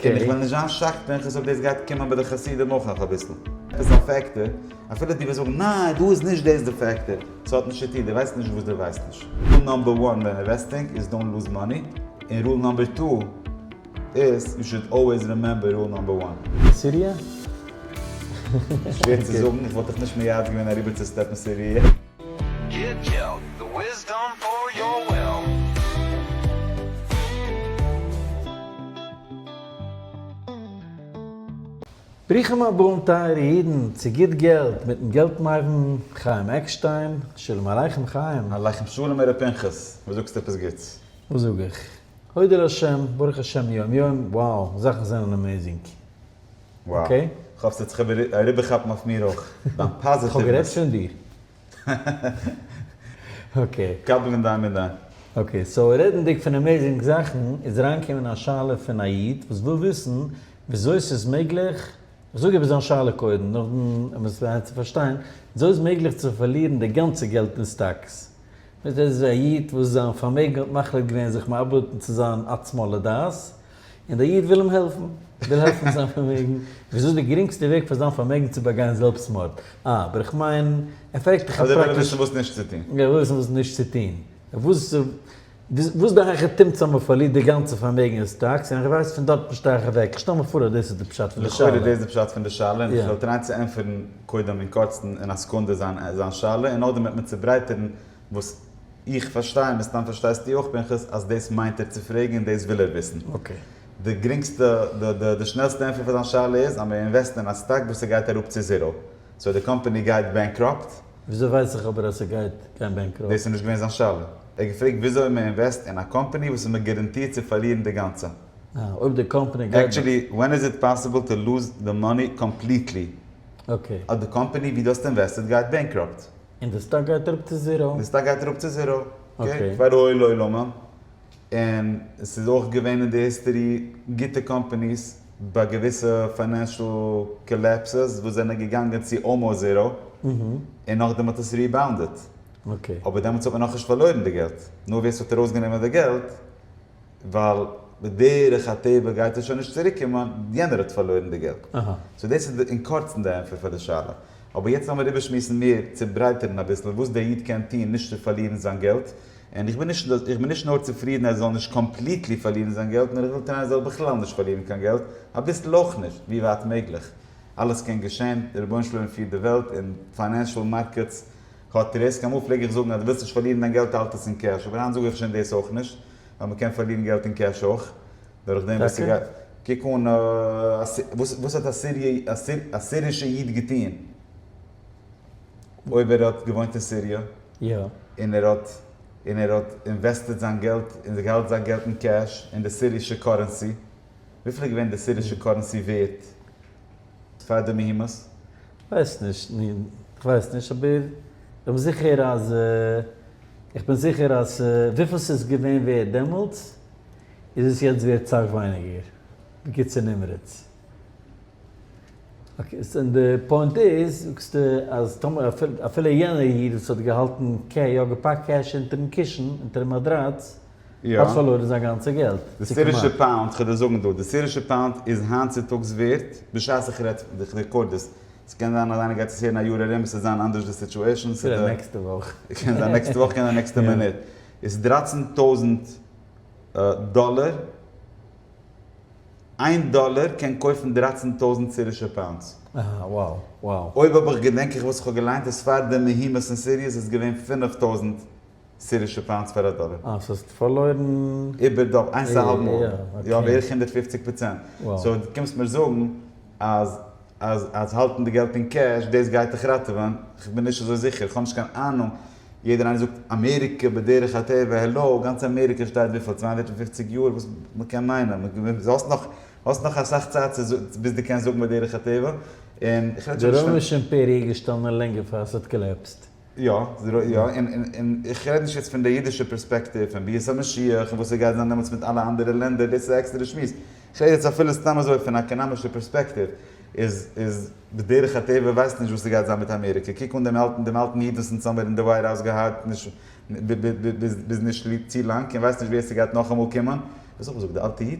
און איך וועל נישט זיין שחצנות אויב דאס גייט קומען ביי די חסידים אויך נאך אביסל. עפעס א פעקטער, אפילו דו וועסט זאגן ניין דא איז נישט דאס די פעקטער, ס'האט נישט צוטון, דו ווייסט נישט וואס דו ווייסט נישט. רול נאמבער וואן ווען אינוועסטינג איז דאונט לוז מאני, און רול נאמבער טו איז יו שוד אלוועיס רימעמבער רול נאמבער וואן. סיריע? שווער צו זאגן, איך וואלט דיך נישט מייעץ געווען אריבערצוסטעפן סיריע. ברוכים הבאים טייערע אידן צו גוט געלט מיטן געלט מבין חיים עקשטיין, שלום עליכם חיים. עליכם שלום ר' פנחס, וואס זאגסטו עפעס גוטס? וואס זאג איך? הודו לה', ברוך השם יום יום, wow, זאכן זענען עמעזינג. וואו, איך האף ס'העט זיך אריבערכאפן אויף מיר אויך, דיין פאזיטיוונעס. כ'האב גערעדט פון דיר. אקעי. קבל אין דיין מידה. אקעי, סאו רעדנדיג פון עמעיזינג זאכן, איז אריינגעקומען א שאלה פון א איד וואס וויל וויסן וויאזוי ס'איז מעגליך, כ'זאג איבער זיין שאלה קודם, נאכדעם ווען מ'איז גרייט צו פארשטיין, וויאזוי איז מעגליך צו פארלירן די גאנצע געלט אין סטאקס? ער איז א איד וואס זיין פארמעגן האט מחליט געווען זיך מאבד צו זיין עצמו לדעת, און דער איד וויל אים העלפן, וויל העלפן מיט זיין פארמעגן, וויאזוי איז די גרינגסטע וועג פאר זיין פארמעגן צו באגיין זעלבסטמארד? אה, אבער איך מיין, ער פרעגט דיך א פראקטישע. ער וויל וויסן וואס נישט צו טון. ער וויל וויסן וואס נישט צו טון. וואס, וואס די הייכע תימ'ס אז מען פארלירט די גאנצע פארמעגן איז סטאקס, און איך ווייס פון דארט נישט אייך אוועק. איך שטעל מיר פאר אז דאס איז די פשט פון די שאלה. לכאורה איז דאס די פשט פון די שאלה, און איך וועל טרייען צו ענטפערן קודם אין קורצן אין א סעקונדע זיין זיין שאלה, און נאכדעם וועט מען צוברייטערן וואס איך פארשטיי, מן הסתם פארשטייסטו אויך פנחס, אז דאס מיינט ער צו פרעגן און דאס וויל ער וויסן. די גרינגסטע, די שנעלסטע ענטפער פאר זיין שאלה איז אז מען אינוועסט אין א סטאק וואס ס'גייט אראפ צו זיראו. סאו די קאמפאני גייט בענקראפט. וויאזוי ווייס איך אבער אז ס'גייט גיין בענקראפט? דאס איז נישט געווען זיין שאלה. ער האט געפרעגט וויאזוי מען אינוועסט אין א קאמפאני וואס איז מען גאראנטירט צו פארלירן די גאנצע. אה, אויב די קאמפאני גייט. עקטשעלי, ווען איז איט פאסיבל טו לוז די מאני קאמפליטלי? אויב די קאמפאני ווי דו האסט אינוועסטעד גייט בענקראפט. און די סטאק גייט אראפ צו זיראו. די סטאק גייט אראפ צו זיראו, אקעי, פאר רואי לעולמים, און עס איז אויך געווען אין די היסטערי גוטע קאמפאניס ביי געוויסע פיינענשעל קאלעפסעס וואס זענען געגאנגען צו אלמאוסט זיראו, און נאכדעם האט עס ריבאונדעד, אבער דעמאלטס האט מען נאכנישט פארלוירן די געלט, נאר ווער ס'האט ארויסגענומען די געלט. ווייל בדרך הטבע גייט ער שוין נישט צוריק קומען, יענער האט פארלוירן די געלט. סאו דאס איז אין קורצן די ענטפער פאר די שאלה. אבער יעצט לאמיר איבערשמועסן מער, צוברייטערן אביסל וואס דער איד קען טון נישט צו פארלירן זיין געלט, און איך בין נישט איך בין נישט נאר צופרידן ער זאל נישט קאמפליטלי פארלירן זיין געלט, נאר איך וויל טרייען ער זאל בכלל נישט פארלירן קיין געלט, אביסל אויך נישט, ווי ווייט מעגליך. אלעס קען געשען, דער רבונו של עולם פירט די וועלט, און פיינענשאל מארקעטס האט ריסק, אמאל פלעג איך זאגן אז דו ווילסט נישט פארלירן דיין געלט האלט עס אין קעש, אבער היינט זאג איך שוין דאס אויך נישט, ווייל מען קען פארלירן געלט אין קעש אויך, דורך דעם וואס ס'גייט, קוק אן א, וואס האט א סירישע איד געטון אויב ער האט געוואוינט אין סיריע, און ער האט, און ער האט אינוועסטעד זיין געלט, און ער האלט זיין געלט אין קעש אין די סירישע קארענסי, וויפיל איז געווען די סירישע קארענסי ווערט פאר די מהומות? כ'ווייס נישט, נו, כ'ווייס נישט, אבער כ'בין זיכער אז, כ'בין זיכער אז וויפיל ס'איז געווען ווערד דעמאלטס, איז עס יעצט ווערד סאך ווייניגער, בקיצור נמרץ. אקעי, סאו די פוינט איז, זאגסטו אז טאמער אפילו יענער איד וואס האט געהאלטן קע, יא געפאקט קעש אונטערן קישן, אונטערן מאדראץ, האט פארלוירן זיין גאנצע געלט, צו כמעט. די סירישע פאונד, כ'וועל דיר זאגן דא, די סירישע פאונד איז היינט צוטאגס ווערט, בשעת איך רעד, איך רעקארד דאס, ס'קען זיין אז איינער גייט עס הערן א יאר ארום, ס'וועט זיין אנדערש די סיטועשאן, ס'וועט זיין נעקסטע וואך, קען זיין נעקסטע וואך, קען זיין נעקסטע מינוט, איז דרייצן טויזנט דאלער, איין דאלער קען קויפן דרייצן טויזנט סירישע פאונדס. אהה wow wow. אויב האב איך געדענק איך וואס איך האב געליינט איז פאר די מהומות אין סיריע איז עס געווען פינף טויזנט. סירישע פאנדס פאר א דאלער. אה, ס'האסט פארלוירן. איבער די איינס א האלב מאל. יא, בערך הונדערט פופציג פראצענט. סאו דו קומסט מיר זאגן אז אז אז האלטן די געלט אין קעש דאס גייט דיך ראטעווען? כ'בין נישט אזוי זיכער, כ'האב נישט קיין אהנונג. יעדער איינער זאגט אמעריקע בדרך הטבע, העלאו, גאנץ אמעריקע שטייט וויפיל? צוויי הונדערט און פופציג יאר? וואס מ'קען מיינען? האסט נאך האסט נאך אסאך צייט צו זאגן ביז דו קענסט זאגן בדרך הטבע. און כ'רעד שוין נישט פון. די רוימישע אימפעריע איז געשטאנען לענגער פאר ס'האט קאלעפסט. יא, און איך רעד נישט יעצט פון די אידישע פערספעקטיוו פון ביאת המשיח און וואס סגייט זיין דעמאלטס מיט אלע אנדערע לענדער, דאס איז א עקסטערע שמועס. איך רעד יעצט אפילו סתם אזוי פון א עקאנאמישע פערספעקטיוו, איז איז בדרך הטבע ווייסט נישט וואס סגייט זיין מיט אמעריקע, קוק אן דעם אלטן דעם אלטן איד וואס אונז האמיר אין די ווייט האוז געהאט נישט ביז נישט צו לאנג און ווייסט נישט ווער סגייט נאכאמאל קומען, דו האסט אויך געזאגט די אלטע איד?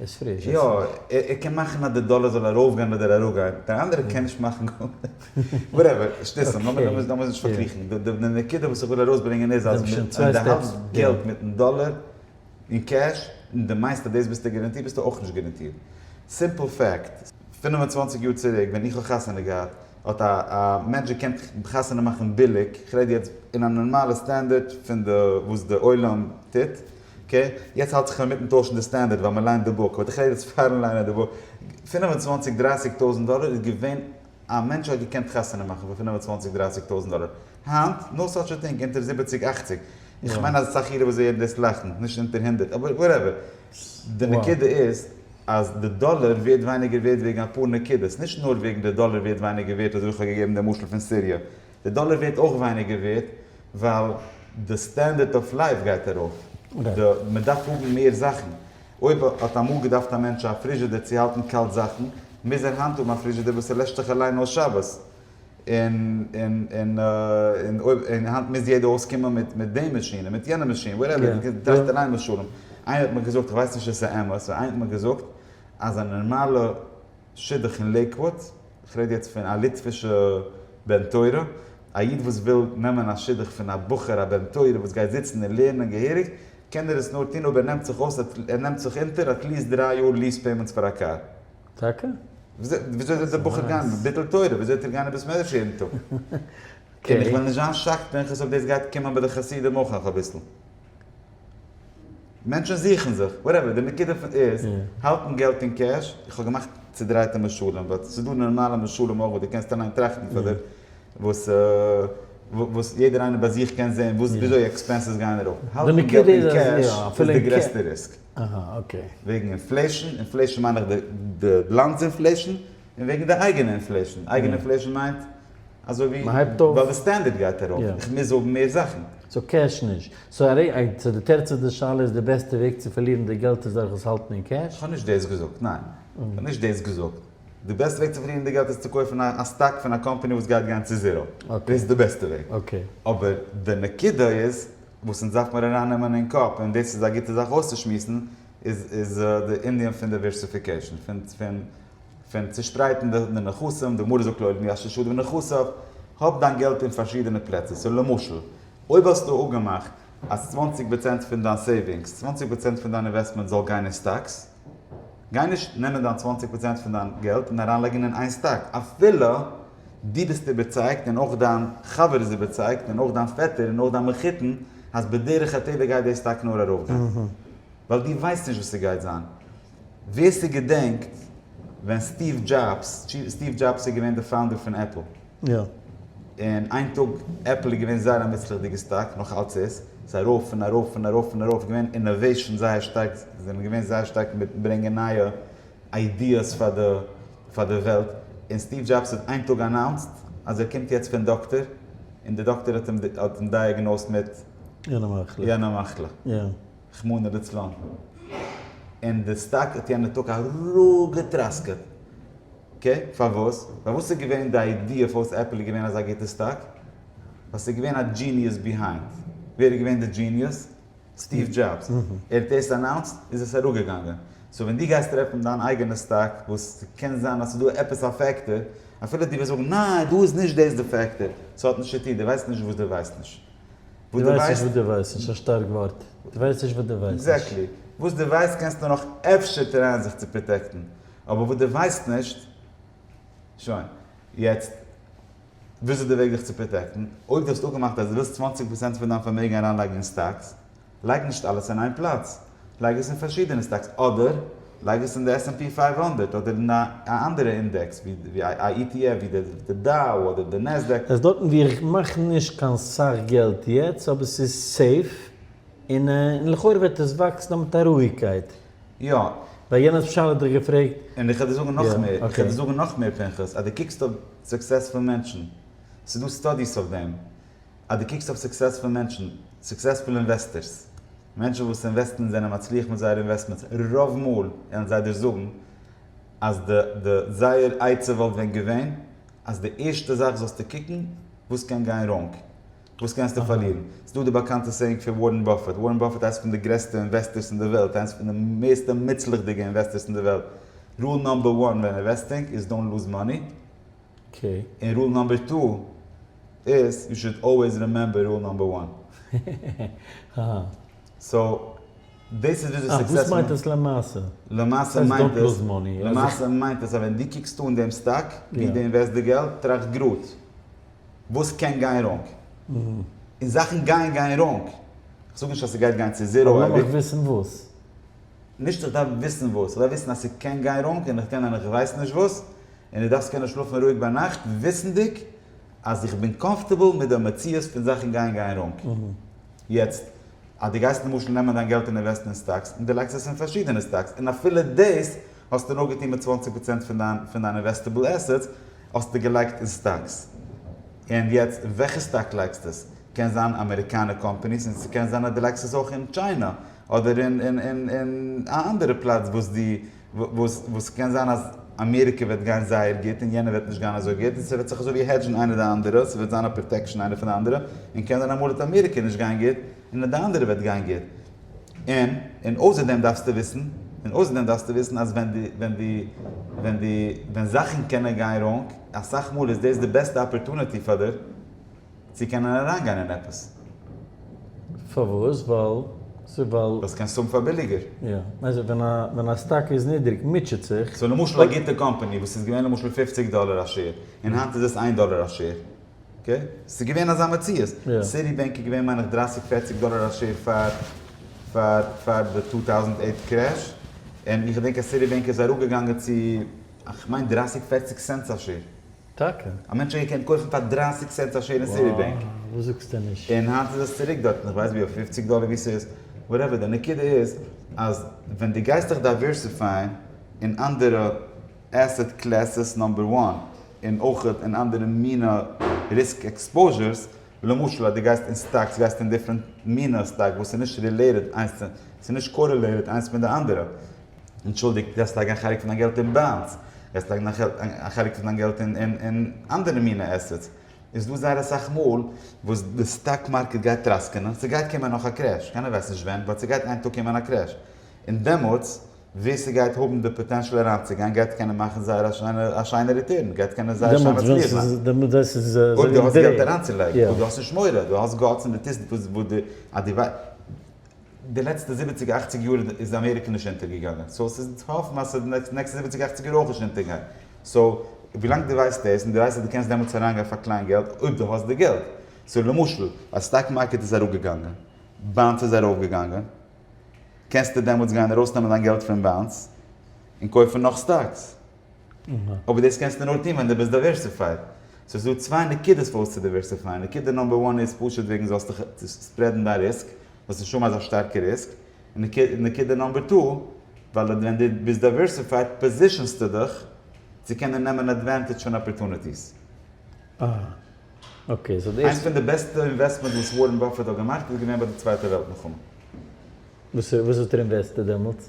איז פריש איז פריש. יא ער קען מאכן אז די דאלער זאל ארויף גיין אדער אראפ גיין, דער אנדערער קען נישט מאכן גארנישט. וואטעווער, שטות, לאמיר אונז נישט פארקריכן. די נקודה וואס איך וויל ארויסברענגען איז אז ווען די האלטסט געלט מיטן דאלער אין קעש און די מיינסט אז דאס ביסטו גאראנטירט ביסטו אויך נישט גאראנטירט. סימפל פעקט. פֿינף און צוואַנציק יאר צוריק ווען איך האב חתונה געהאט האט א א מענטש געקענט חתונה מאכן ביליג, כ'רעד יעצט אין א נארמאלע סטענדערט פון די וואס די עולם טוט, אקעי, יעצט האלט איך אינמיטן טוישן די סטענדערט ווייל מ'ליינט די בוק, באט איך רעד יעצט פארן ליינען די בוק. פֿינף און צוואַנציק דרייסיג טויזנט דאלער איז געווען א מענטש האט געקענט חתונה מאכן פאר פֿינף און צוואַנציק דרייסיג טויזנט דאלער. היינט, נאו סאטש א טינג אונטער זיבעציג אכציג. איך מיין אז אסאך אידן וואס הערן דאס לאכן. נישט אונטער הונדערט. אבער וואטעווער. די נקודה איז אז די דאלער ווערט ווייניגער ווערט וועגן אפאר נקודות. נישט נאר וועגן די דאלער ווערט ווייניגער ווערט אזויווי איך האב געגעבן די משל פון סיריע. די דאלער ווערט אויך ווייניגער ווערט ווייל די סטענדערט אויף לייף גייט ארויף, די מען דארף האבן מער זאכן, אויב האט אמאל געדארפט א מענטש א פריזשעדער צו האלטן קאלט זאכן, מוז ער היינט האבן א פריזשעדער וואס ער לעשט זיך אליין אויס שבת, און און און און אויב און היינט מוז יעדער אויסקומען מיט מיט די מאשין און מיט יענע מאשין וואטעווער, די קענסט טראכט אליין משלים, איינער האט מיר געזאגט, איך ווייס נישט צו ס'אמת, איינער האט מיר געזאגט אז א נארמאלע. שידוך אין לעיקוואוד, כ'רעד יעצט פון א ליטווישע בן תורה, א איד וואס וויל נעמען א שידוך פון א בחור א בן תורה וואס גייט זיצן און לערנען געהעריג, קען ער עס נאר טון אויב ער נעמט זיך אויס ער נעמט זיך אונטער אטליעסט דריי יאר ליעס פעימענטס פאר א קאר. טאקע? וויאזוי זאל דער בחור גיין? ביטול תורה, וויאזוי וועט ער גיין אין בית מדרש יעדן טאג? און איך וועל נישט זיין שאקט פנחס אויב דאס גייט קומען ביי די חסידים אויך נאך אביסל. מענטשן זוכן זיך, וואטעווער, די נקודה איז, האלטן געלט אין קעש, איך האב געמאכט צודרייטע משלים, ווייל ס'איז דא נארמאלע משלים אויך וואס דו קענסט אליין טראכטן פאר דיר, וואס וואס יעדער איינער ביי זיך קען זען וואס וויאזוי עקספענסעס גייען ארויף, האלטן געלט אין קעש איז די גרעסטע ריסק, וועגן אינפלעישן, אינפלעישן מיין איך די לאנד'ס אינפלעישן, און וועגן די אייגענע אינפלעישן, אייגענע אינפלעישן מיינט. אזוי ווי מ'הייבט אויף. ווייל די סטענדערד גייט ארויף, יא. איך מוז זאגן מער זאכן. סאו קעש נישט. סאו ארי א צו די תירץ איז די שאלה איז די בעסטע וועג צו פארלירן די געלט איז דורך עס האלטן אין קעש? כ'האב נישט דאס געזאגט, ניין. כ'האב נישט דאס געזאגט. די בעסטע וועג צו פארלירן די געלט איז צו קויפן א סטאק פון א קאמפאני וואס גייט גיין צו זיראו. דאס איז די בעסטע וועג. אקעי. אבער די נקודה איז, וואס אונז דארף מיר ארייננעמען אין קאפ, און דאס איז א גוטע זאך אויסצושמועסן, איז איז די ענין פון דייווערסיפיקעישן, פון פון. פון צושפרייטן די נכסים, די גמרא זאגט לא עלמי אשה שדו בנכסיו, האב דיין געלט אין פארשידענע פלעצער, סאו למשל, אויב האסטו אפגעמאכט אז צוואַנציק פראצענט פון דיין סעיווינגס, צוואַנציק פראצענט פון דיין אינוועסטמענט זאל גיין אין סטאקס, גיי נישט נעמען דיין צוואַנציק פראצענט פון דיין געלט און אריינלייגן אין איין סטאק, אפילו דו ביסט איבערצייגט און אויך דיין חבר איז איבערצייגט און אויך דיין פעטער און אויך דיין מחותן אז בדרך הטבע גייט די סטאק נאר ארויפגיין, ווייל דו ווייסט נישט וואס ס'גייט זיין. ווער ס'געדענקט ווען סטיוו דזשאבס, סטיוו דזשאבס איז געווען די פאונדער פון עפל, און איין טאג עפל איז געווען זייער א מוצלח'דיגע סטאק, נאך אלץ איז, ס'איז ארויף און ארויף און ארויף און ארויף, געווען אינאוועישאן זייער שטארק, זיי זענען געווען זייער שטארק מיט ברענגען נייע איידיעס פאר די פאר די וועלט, און סטיוו דזשאבס האט איין טאג אנאונסט אז ער קומט יעצט פון דאקטער, און די דאקטער האט אים דייעגנאוזט מיט יענע מחלה. רחמנא ליצלן, און די סטאק האט יענע טאג אראפגעטראסקעט, אקעי? פארוואס? ווייל וואס איז געווען די איידיע פארוואס עפל איז געווען אזא גוטע סטאק? ווייל ס'איז געווען א דזשיניעס ביהיינד. ווער איז געווען די דזשיניעס? סטיוו דזשאבס. ער האט דאס אנאונסט, איז עס אראפגעגאנגען. סאו ווען דו גייסט טרעפן דיין אייגענע סטאק וואס קען זיין אז ס'איז דא עפעס א פעקטאר, אפילו דו וועסט זאגן ניין דא איז נישט דאס די פעקטאר, ס'האט נישט צוטון, דו ווייסט נישט וואס דו ווייסט נישט. וואס דו ווייסט. דו ווייסט נישט וואס דו ווייסט נישט א שטארק ווארט. דו ווייסט נישט וואס דו ווייסט נישט. עקזעקטלי. וואס דו ווייסט קענסטו נאך אפשר טרייען זיך צו פראטעקטן. אבער וואס דו ווייסט נישט. שוין. יעצט. וואס איז די וועג זיך צו פראטעקטן? אויב דו האסט אפגעמאכט אז דו ווילסט צוואַנציק פראצענט פון דיין פארמעגן אריינלייגן אין סטאקס, לייג נישט אלעס אין איין פלאץ, לייג עס אין פארשידענע סטאקס אדער לייג עס אין די עס ענד פי פֿינף הונדערט אדער אין א אנדערע אינדעקס ווי א אי טי עף ווי די דאו אדער די נעסדעק. עס דארטן ווי איך מאך נישט קיין סאך געלט יעצט אבער עס איז סעיף און און לכאורה וועט עס וואקסן נאר מיט א רואיגקייט. יא. ווייל יענער האט אפשאנעל דיך געפרעגט. און איך וועל דיר זאגן נאך מער, איך וועל דיר זאגן נאך מער פנחס, אז דו קוקסט אויף סוקסעספול מענטשן, ס'איז דא סטאדיס אויף דעם, אז דו קוקסט אויף סוקסעספול מענטשן, סוקסעספול אינוועסטערס, מענטשן וואס אינוועסטן און זענען מצליח מיט זייערע אינוועסטמענטס, רוב מאל וועלן זיי דיר זאגן אז די די זייער עצה וואלט ווען געווען אז די ערשטע זאך זאלסטו קוקן וואס קען גיין ראנג, וואס קענסטו פארלירן. ס'איז דא די באקאנטע סעיאינג פון ווארען באפעט, ווארען באפעט איינס פון די גרעסטע אינוועסטערס אין די וועלט, איינס פון די מערסטע מוצלח'דיגע אינוועסטערס אין די וועלט, רול נאמבער וואן ווען אינוועסטינג איז דאונט לוז מאני. אקעי. און רול נאמבער טו איז יו שוד אלוועיס רימעמבער רול נאמבער וואן. אהא. סאו דאס איז וויאזוי סוקסעספול. אה דאס מיינט עס למעשה. למעשה מיינט עס. דאנט לוז מאני. למעשה מיינט עס אז ווען דו קוקסט אן דעם סטאק ווי דו אינוועסט די געלט טראכט גראד וואס קען גיין ראנג. און זאכן גייען גיין ראנג. כ'זאג נישט אז ס'גייט גיין צו זיראו אייביג. אבער לאמיך וויסן וואס. נישט איך דארף וויסן וואס. איך דארף וויסן אז ס'קען גיין ראנג און איך קען און איך ווייס נישט וואס. און דו דארפסט קענען שלאפן רואיג ביינאכט וויסנדיג אז איך בין קאמפארטעבל מיט די מציאות פון זאכן גייען גיין ראנג. יעצט, אז דו גייסט למשל נעמען דיין געלט און אינוועסטן אין סטאקס, און דו לייגסט עס אין פארשידענע סטאקס, און אפילו דאס האסטו נאר געטון מיט צוואַנציק פראצענט פון דיין פון דיין אינוועסטעבל עסעטס האסטו געלייגט אין סטאקס, און יעצט אין וועלכע סטאק לייגסטו עס? קען זיין אמעריקאנע קאמפאניס, און ס'קען זיין אז דו לייגסט עס אויך אין טשיינע, אדער אין אין אין אין א אנדערע פלאץ וואס דו וואס וואס ס'קען זיין אז אמעריקע וועט גיין זייער גוט און יענער וועט נישט גיין אזוי גוט און ס'וועט זיך אזוי ווי העדזשן איינער די אנדערע, ס'וועט זיין א פראטעקשאן איינער פון די אנדערע, און קען זיין אמאל וועט אמעריקע נישט גיין גוט און די אנדערע וועט גיין גוט. און און אויסער דעם דארפסטו וויסן, און אויסער דעם דארפסטו וויסן אז ווען די ווען די ווען די ווען זאכן קענען גיין ראנג, אסאך מאל איז דאס די בעסטע אפערטוניטי פאר די צו קענען אריינגיין אין עפעס. פארוואס? ווייל ס'איז ווייל. וועסט קענסט האבן פאר ביליגער. יא. מיינסט ווען א ווען א סטאק איז נידריג מוטשעט זיך. סאו למשל א גוטע קאמפאני וואס איז געווען למשל פֿופֿציק דאלער א שעיר און היינט איז עס איין דאלער א שעיר אקעי ס'איז געווען אזא מציאות סיטי בענק איז געווען מיין איך דרײַסיק פֿערציק דאלער א שעיר פאר פאר פאר די טו טאוזענד עיט קרעש און איך געדענק אז סיטי בענק איז אראפגעגאנגען צו כ'מיין דרײַסיק פֿערציק סענטס א שעיר. טאקע? א מענטש האט געקענט קויפן פאר דרײַסיק סענט א שעיר אין סיטי בענק. וואו? וואס זאגסטו נישט? און היינט איז עס צוריק דארטן, איך ווייס ווי אויף פֿופֿציק דאלער ווי ס'איז, וואטעווער, די נקודה איז אז ווען דו גייסט דיך דייווערסיפייען אין אנדערע עסעט קלעסעס נאמבער וואן, און אויך אין אנדערע מינע ריסק עקספאוזשערס, למשל אז דו גייסט אין סטאקס גייסטו אין דיפרענט מינע סטאק וואס איז נישט רילעיטעד איינס צו, ס'איז נישט קארעלעיטעד איינס מיט די אנדערע, אנטשולדיגט, גייסט לייגן א חלק פון דיין געלט אין באנדס, גייסט לייגן א חלק פון דיין געלט אין אנדערע מינע עסעטס, איז דא זייער אסאך מאל וואס די סטאק מארקעט גייט טראסקענען, ס'גייט קומען נאך א קרעש, קיינער ווייסט נישט ווען, באט ס'גייט איין טאג קומען א קרעש, און דעמאלטס ווער ס'גייט האבן די פאטענשעל אריינצוגיין גייט קענען מאכן זייער א שיינע א שיינע ריטורן, גייט קענען זייער שיין מצליח זיין. דעמאלטס ווען ס'איז אזוי ווי די. אויב דו האסט געלט אריינצולייגן, אויב דו האסט נישט מורא, דו האסט גאטס און דו טוסט וואס וואס די אז די ווייסט. די לעצטע זיבעציג אכציג יאר איז אמעריקע נישט אונטער געגאנגען סאו ס'איז צו האפן אז די נעקסטע זיבעציג אכציג יאר אויך נישט אונטער גיין סאו ווילאנג די ווייסט דאס און די ווייסט אז די קענסט דעמאלטס אריין גיין פאר קליין געלט אויב די האסט די געלט סאו למשל אז סטאק מארקעט איז אראפ געגאנגען באנדס איז ארויף געגאנגען קענסטו דעמאלטס גיין ארויס נעמען דיין געלט פון באנדס און קויפן נאך סטאקס. אבער דאס קענסטו נאר טון ווען דו ביסט דייווערסיפייד. סאו ס'איז דא צוויי נקודות פארוואס צו דייווערסיפייען. נקודה נומבער וואן איז פשוט וועגן זאלסט דיך ספרעדן דיין ריסק, זאלסט נישט האבן אזא שטארקע ריסק. און נקודה נומבער טו, ווייל ווען דו ביסט דייווערסיפייד פאזישאנסטו דיך צו קענען נעמען עדווענטעדזש פון אפערטוניטיס. איינס פון די בעסטע אינוועסטמענט וואס ווארען באפעט האט געמאכט איז געווען ביי די צווייטע וועלט מלחמה. וואס האט ער אינוועסטעד דעמאלטס?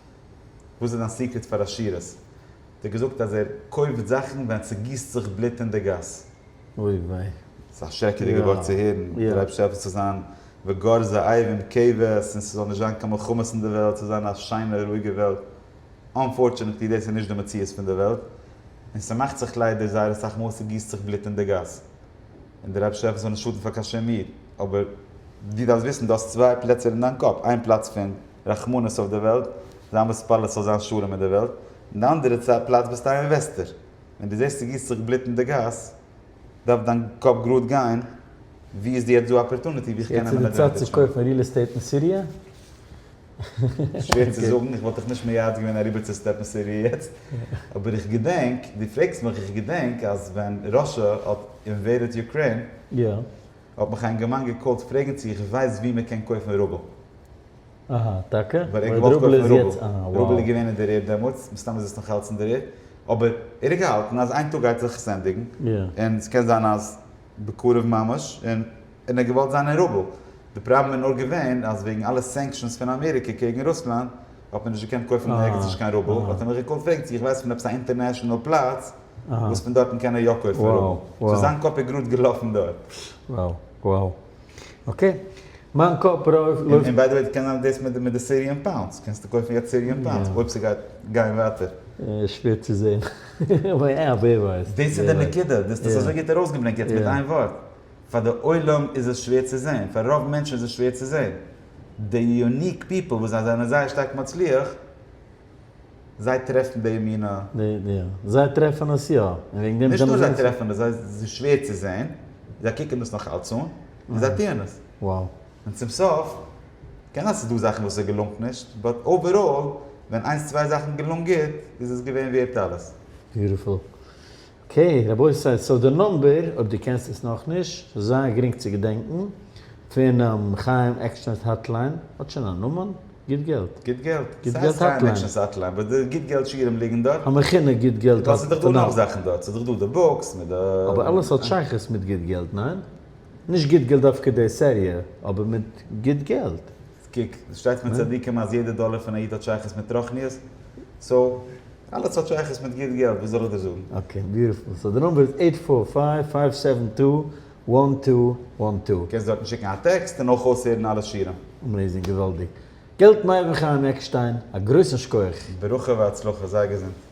וואס איז דיין סיקרעט פאר עשירות? האט ער געזאגט אז ער קויפט זאכן ווען ס'גיסט זיך בלוט אין די גאס. אוי וויי. ס'איז א שרעקעדיגע ווארט צו הערן, דו לייבסט שוין עפעס צו זיין וגרז עירום כבש און ס'זאל נישט זיין קיין מלחמות אין די וועלט, ס'זאל זיין א שיינע רואיגע וועלט. אנפארטשענעטלי דאס איז נישט די מציאות פון די וועלט, און ס'מאכט זיך ליידער זייער אסאך מאל אז ס'גיסט זיך בלוט אין די גאס. און דער אייבערשטער עפעס זאל נישט שאטן פאר קיין שום איד. אבער דו דארפסט וויסן, דו האסט צוויי פלעצער אין דיין קאפ, איין פלאץ פון. רחמנות אויף דער וועלט, זיי האבן מתפלל עס זאל זיין שלום אין דער וועלט, אין די אנדערע צייט פלאץ ביסטו א אינוועסטער, ווען דו זעסט ס'גיסט זיך בלוט אין די גאס, דארף דיין קאפ גראד גיין, ווי איז יעצט דא א אפערטוניטי ווי איך קען נעמען עדווענטעדזש. יעצט איז די צייט צו קויפן ריעל עסטעיט אין סיריע? שווער צו זאגן, איך וואלט דיך נישט מייעץ געווען אריבער צו סטעפן סיריע יעצט, אבער איך געדענק, דו פרעגסט מיך, איך געדענק אז ווען ראשע האט אינוועידעד יוקרעין, האט מיך א אינגערמאן געקאלט פרעגן צו איך ווייס ווי מען קען קויפן רובל. אהא, טאקע? ווייל ער האט געוואלט קויפן רובל. רובל איז געווען אין די ר דעמאלטס, מסתם איז עס נאך אלץ אין די ר, אבער ער האט געהאלטן אז איין טאג גייט זיך עס ענדיגן, און ס'קען זיין אז בקרוב ממש, און ער האט געוואלט זיין אין רובל. די פראבלעם איז נאר געווען אז וועגן אלע סענקשאנס פון אמעריקע קעגן רוסלאנד האט מען נישט געקענט קויפן אין ערגעץ נישט קיין רובל, האט ער מיך געקאלט פרעגן צו איך ווייס פון עפעס א אינטערנעשאנעל פלאץ, וואס פון דארטן קען ער יא כופר האבן? סאיז זיין קאפ איז גראד געלאפן דארט. וואו וואו אקעי מיין קאפ לויפט. און ביי די וועי קען זיין דאס מיט די סיריען פאונדס קענסטו קויפן יעצט סיריען פאונדס אויב סגייט גיין ווייטער. שווער צו זעהן ווער ווייסט. דאס איז די נקודה דאס האסט אזוי גוט ארויסגעברענגט יעצט מיט איין ווארט פאר די עולם איז עס שווער צו זעהן פאר רוב מענטשן איז עס שווער צו זעהן די יוניק פיפל וואס זיי זענען זייער שטארק מצליח זיי טרעפן די אמונה? זיי טרעפן עס יא, און וועגן דעם זענען זיי. נישט נאר זיי טרעפן עס, זיי איז שווער צו זען, זיי קוקן דאס נאך אלץ אן, און זיי טוען עס. און צום סוף, קען זיין ס'איז דא זאכן וואס עס געלונגט נישט, באט אוועראל, ווען איינס צוויי זאכן געלונגען גוט, איז עס געווען ווערט אלעס. ביוטיפול. אקעי רבותי, סאו די נומבער, אויב דו קענסט עס נאכנישט, ס'איז זייער גרינג צו געדענקן, פונעם חיים עקשטיינ'ס האטליין, האט שוין א נאמען? גוט געלט. גוט געלט? גוט געלט האטליין. ס'הייסט חיים עקשטיינ'ס האטליין, וואס די גוט געלט שיעורים ליגן דארט. המכונה גוט געלט האטליין. ווייל ס'איז דאך דא נאך זאכן דארט, ס'איז דאך דא די בוקס מיט די. אבער אלעס האט שייכות מיט גוט געלט, ניין? נישט גוט געלט דווקא די סעריע, אבער מיט גוט געלט. קוק, עס שטייט מיט צדיקים אז יעדע דאלער פון א איד האט שייכות מיט רוחניות, סאו אלעס האט שייכות מיט גוט געלט, וואס זאל איך דיר זאגן? אקעי, ביוטיפול. סאו די נומבער איז עיט פאר פייוו פייוו סעווען טו וואן טו וואן טו. קענסט דארטן שיקן א טעקסט און אויך אויסהערן אלע שירים. אמעיזינג, געוואלדיג. געלט מיידל חיים עקשטיין, א גרויסן שכוח. ברכה והצלחה, זיי געזונט.